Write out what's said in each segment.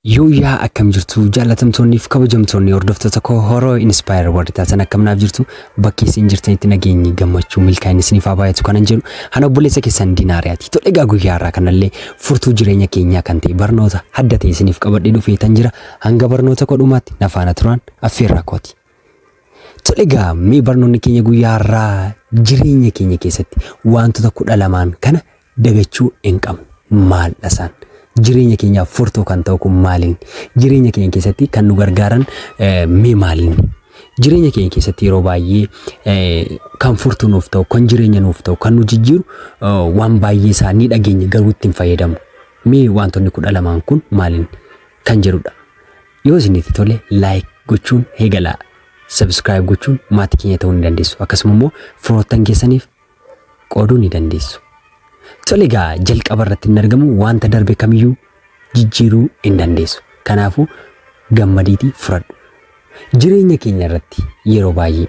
Yooyyaa akkam jirtu jaallatamtoonniif kabajamtoonni hordoftoota koo horoo inspire warri taatan akkam naaf jirtu bakki isin jirtanitti nageenyi gammachuu milkaa'inni isiniif haa baay'atu kanan jedhu ana obboleessa keessan dinaariyaati tole egaa guyyaa har'aa kanallee furtuu jireenya keenyaa kan ta'e barnoota adda ta'e isiniif qabadhee dhufee tan jira hanga barnoota koo dhumaatti na faana turaan affeerraa kooti. Tole egaa mee barnoonni keenya guyyaa har'aa jireenya keenya keessatti wantoota kudha lamaan kana dagachuu hin qabnu. Maaldha isaan? Jireenya keenyaaf furtuu kan ta'u kun maaliin? Jireenya keenya keessatti kan nu gargaaran mee maaliin? Jireenya keenya keessatti yeroo baay'ee kan furtuu nuuf ta'u, kan jireenya nuuf ta'u, kan nu jijjiiru waan baay'ee isaa ni dhageenya garuu ittiin fayyadamu. Mee wantoonni kudha lamaan kun maaliin kan jedhudha. Yoo isinitti tole like gochuun eegalaa. Subscribe gochuun maatii keenya ta'uu ni dandeessu. Akkasuma immoo firoottan keessaniif qooduu ni dandeessu. Tole egaa jalqaba irratti hin argamu wanta darbe kamiyyuu jijjiiruu hin dandeessu. Kanaafuu gammadiitii fudhadhu. Jireenya keenya irratti yeroo baay'ee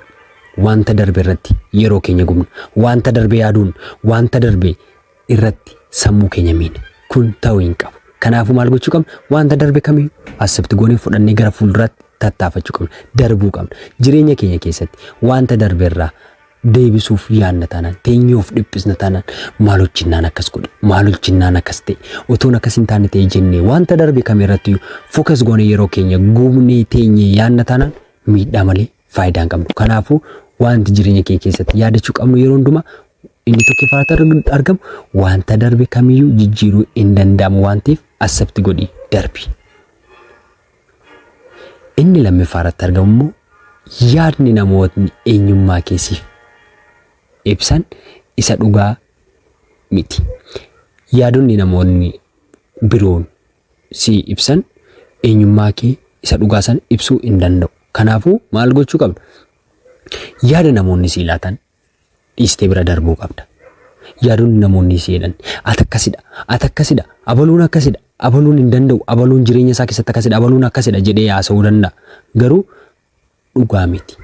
wanta darbe irratti yeroo keenya gubna. Wanta darbe yaaduun wanta darbe irratti sammuu keenya miina. Kun ta'uu hin qabu. Kanaafuu maal gochuu qabna? Wanta darbe kamiyyuu asibti goonee fudhannee gara fuulduraatti tattaafachuu qabna. Darbuu qabna. Jireenya keenya keessatti wanta darbe irraa deebisuuf yaanna taanaan teenyee of dhiphisna taanaan maal hojjennaan akkas godhe maal hojjennaan akkas ta'e otoon akkas hin taane ta'e jennee wanta darbe kam irratti fokas goone yeroo keenya gubnee teenyee yaanna taanaan miidhaa malee faayidaa hin qabnu kanaafuu wanti jireenya keenya keessatti yaadachuu qabnu yeroo hundumaa inni tokkoffaarratti arg- argamu wanta darbe kamiyyuu jijjiiruu hin danda'amu waan ta'eef asabti godhi darbi. Inni lammiffaa irratti argamu immoo yaadni namootni eenyummaa keessiif ibsan isa dhugaa miti. Yaadonni namoonni biroon si ibsan eenyummaa kee isa dhugaa san ibsuu hin danda'u. Kanaafuu maal gochuu qabna? Yaada namoonni si laatan dhiistee bira darbuu qabda. Yaadonni namoonni si jedhan ati akkasidha ati akkasidha abaluun akkasidha abaluun hin danda'u abaluun jireenya isaa keessatti akkasidha abaluun akkasidha jedhee haasa'uu danda'a. Garuu dhugaa miti.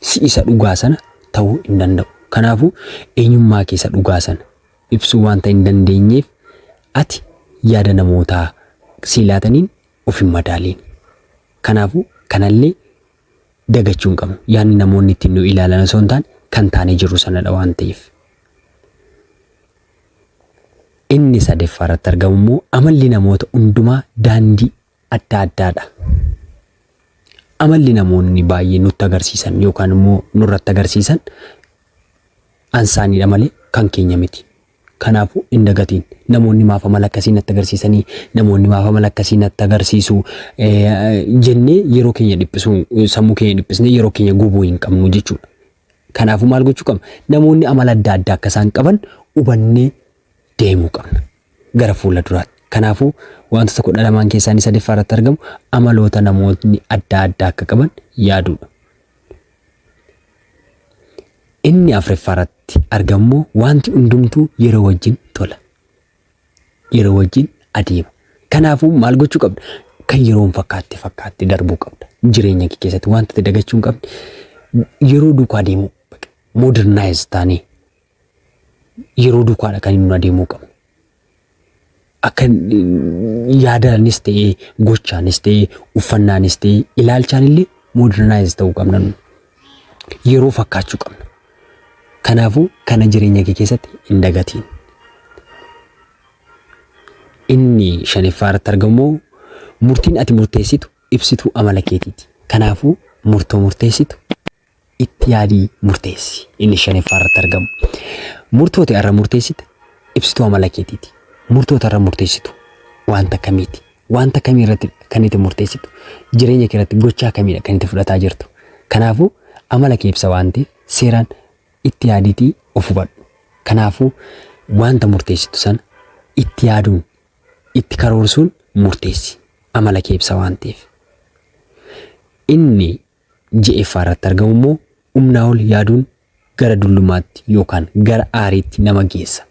Si isa dhugaa sana ta'uu hin danda'u. Kanaafuu eenyummaa keessa dhugaa sana ibsuu wanta hin dandeenyeef ati yaada namootaa sii laataniin of hin madaaliin. Kanaafuu kanallee dagachuu hin qabnu. Yaadni namoonni ittiin nu ilaalan osoo hin taane kan taanee jirru sanadha waan ta'eef. Inni sadeeffaa irratti argamu immoo amalli namoota hundumaa daandii adda addaadha. Amalli namoonni baay'ee nutti agarsiisan yookaan immoo nurratti agarsiisan ansaaniidha malee kan keenya miti. Kanaafuu hin dagatiin. Namoonni maaf amala akkasii natti agarsiisanii, namoonni maaf amala akkasii natti agarsiisu jennee yeroo keenya dhiphisuu, sammuu keenya dhiphisnee yeroo keenya gubuu hin qabnu jechuudha. Kanaafuu maal gochuu qabna? Namoonni amala adda addaa akka isaan qaban hubannee deemuu qabna gara fuula duraatti. Kanaafuu wantoota kudha lamaan keessaa inni sadaffaa irratti argamu amaloota namootni adda addaa akka qaban yaaduudha. Inni afreffaarratti argammoo wanti hundumtuu yeroo wajjin tola. Yeroo wajjin adeema. Kanaafuu maal gochuu qabda? Kan yeroon fakkaatte fakkaatte darbuu qabda. Jireenya kee keessatti wanti dagachuu hin qabne yeroo duukaa deemuu modernize taanee yeroo dukaadha kan inni adeemuu qabu. Akka yaadaanis ta'ee gochaanis ta'ee uffannaanis ta'ee ilaalchaan illee modernize ta'uu qabna. Yeroo fakkaachuu qabna. Kanaafuu kana jireenya kee keessatti hin dagatiin. Inni shaniffaa irratti argamu murtiin ati murteessitu ibsituu amala keetiiti. Kanaafuu murtoo murteessitu itti yaadii murteessi. Inni shanaffaa irratti argamu. Murtooti irra murteessite ibsituu amala keetiiti. Murtoota irra murteessitu wanta akkamiiti? Wanta akkamii irratti kan itti murteessitu? Jireenya kee irratti gochaa akkamiidha kan itti fudhataa jirtu? Kanaafuu amala kee ibsa waan ta'eef seeraan itti yaadiitii of hubadhu. Kanaafuu wanta murteessitu sana itti yaaduun itti karoorsuun murteessi. Amala kee ibsa waan ta'eef. Inni 6ffaa irratti argamu immoo umnaa ol yaaduun gara dullumaatti yookaan gara aariitti nama geessa.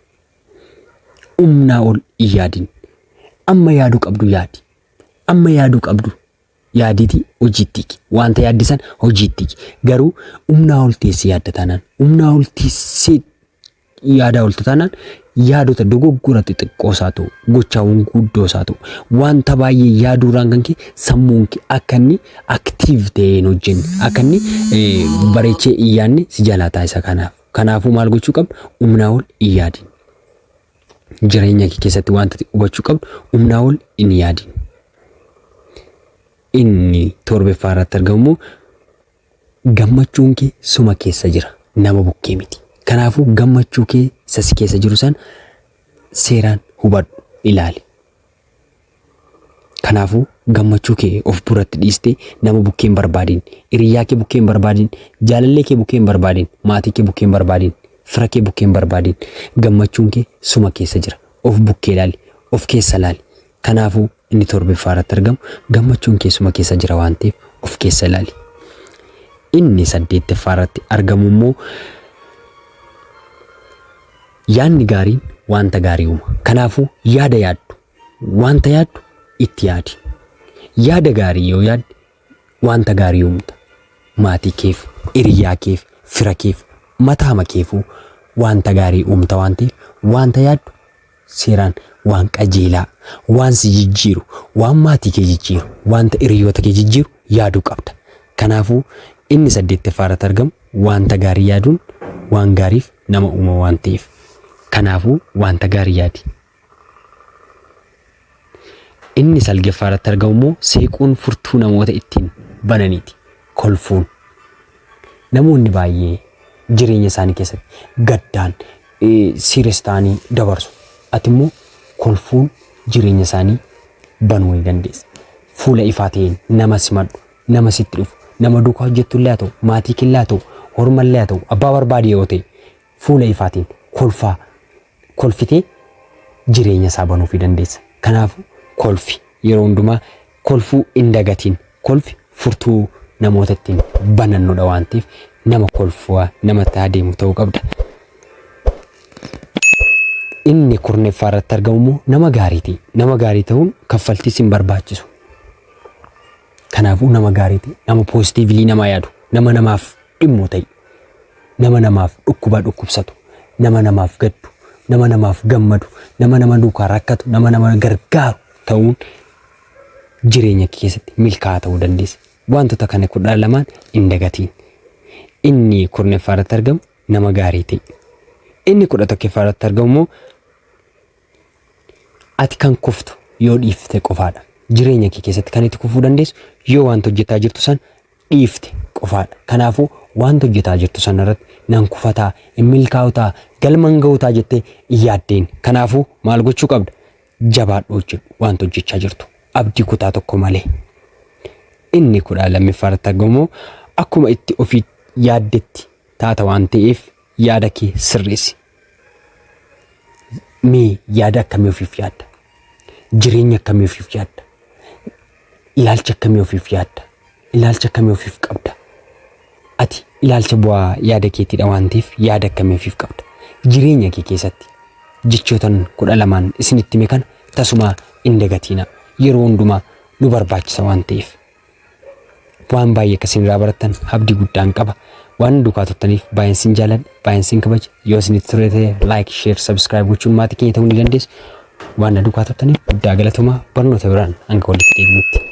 Umnaa ol hin yaadin. Amma yaaduu qabdu yaadi. Amma yaaduu qabdu yaaditi hojiitti hiki. Wanta yaadde san hojiitti hiki. Garuu umnaa ol teessee yaadda taanaan umnaa ol teessee yaadaa oltu taanaan yaadota dogoggora xixiqqoo isaa ta'u gochaawwan guddoo isaa ta'u wanta baay'ee yaaduurraan kan kee sammuun kee akka inni aktiiv ta'ee hin hojjenne akka inni eh, bareechee hin yaadne si jalaa taasisa kanaaf kanaafuu maal gochuu qabna humnaa ol hin yaadin jireenya kee keessatti wanta ati hubachuu qabdu humnaa ol hin yaadin inni torbeffaa irratti argamu Gammachuun kee suma keessa jira, nama bukkee miti. Kanaafuu gammachuu kee isa si keessa jiru san seeraan hubadhu, ilaali. Kanaafuu gammachuu kee of biratti dhiistee nama bukkee hin barbaadin, hiriyyaa kee bukkee hin barbaadin, jaalallee kee bukkee hin barbaadin, maatii kee bukkee hin barbaadin, fira kee bukkee hin barbaadin. Gammachuun kee suma keessa jira. Of bukkee ilaali, of keessa ilaali. Kanaafuu, inni torbeffaa irratti argamu gammachuun kee suma keessa jira waan ta'eef of keessa ilaali. Inni saddeetteffaa irratti argamu immoo yaadni gaariin wanta gaarii uuma. Kanaafuu yaada yaaddu, wanta yaaddu itti yaadi. Yaada gaarii yoo yaadde Wanta gaarii uumta. Maatii keef, hiriyaa keef, fira keef, mataama keefuu wanta gaarii uumta waan ta'eef wanta yaaddu seeraan waan qajeelaa, waan si jijjiiru, waan maatii kee jijjiiru, wanta hiriyoota kee jijjiiru yaaduu qabda. Kanaafuu inni saddeettaffaa irratti argamu wanta gaarii yaaduun waan gaariif nama uuma waan ta'eef. Kanaafuu wanta gaarii yaadi. Inni salgaffaa irratti argamu immoo seequun furtuu namoota ittiin bananiiti. Kolfuun. Namoonni baay'ee jireenya isaanii keessatti gaddaan siires ta'anii dabarsu. Ati immoo kolfuun jireenya isaanii banuu ni dandeessa. Fuula ifaa ta'een nama simadhu, nama sitti dhufu, nama duukaa hojjettu illee haa ta'u, maatii kee illee haa ta'u, horma illee haa ta'u, abbaa barbaade yoo ta'e fuula ifaatiin kolfaa kolfitee jireenya isaa banuufi dandeessa. Kanaafuu kolfi yeroo hundumaa kolfuu hin dagatiin. Kolfi furtuu namoota ittiin banannudha waan ta'eef nama kolfaa nama ta'aa deemu ta'uu qabda. Inni kurnaffaa irratti argamu immoo nama gaariiti. Nama gaarii ta'uun kaffaltiis hin barbaachisu. Kanaafuu nama gaarii ta'i, nama poositiivilii namaa yaadu, nama namaaf dhimmu ta'i, nama namaaf dhukkubaa dhukkubsatu, nama namaaf gaddu, nama namaaf gammadu, nama nama duukaa rakkatu, nama nama gargaaru ta'uun jireenya kee keessatti milkaa'aa ta'uu dandeessa. Wantoota kana kudha lamaan hin dagatiin. Inni kurnaffaa irratti argamu nama gaarii ta'i. Inni kudha tokkoffaa irratti argamu immoo Ati kan kuftu yoo dhiifte qofaadha. Jireenya kee keessatti kan itti kufuu dandeessu yoo wanta hojjetaa jirtu san dhiifte qofaadha. Kanaafuu wanta hojjetaa jirtu san irratti nan kufataa, hin milkaa'utaa, galman ga'utaa jettee hin yaaddeen. Kanaafuu maal gochuu qabda? Jabaadhu hojjedhu wanta hojjechaa jirtu. Abdii kutaa tokko malee. Inni kudha lammiffaa irratti argamu akkuma itti ofii yaaddetti taata waan ta'eef yaada kee sirreessi. Mee yaada akkamii ofiif yaadda? Jireenya akkamii ofiif yaadda? Ilaalcha akkamii ofiif yaadda? Ilaalcha akkamii ofiif qabda? Ati ilaalcha bu'aa yaada keetiidha waan ta'eef yaada akkamii ofiif qabda? Jireenya kee keessatti jechootan kudha lamaan isinitti hime kana tasumaa hin dagatiina. Yeroo hundumaa nu barbaachisa waan ta'eef Waan baay'ee akka isin irraa barattan abdii guddaan qaba. Waan nu duukaa turtaniif baay'een isin jaaladha, baay'een isin kabaja. Yoo isinitti tole ta'e like, share, subscribe gochuun maatii keenya ta'uu ni dandeessu. Waan na duukaa turtaniif guddaa galatomaa barnoota biraan hanga walitti deebinutti.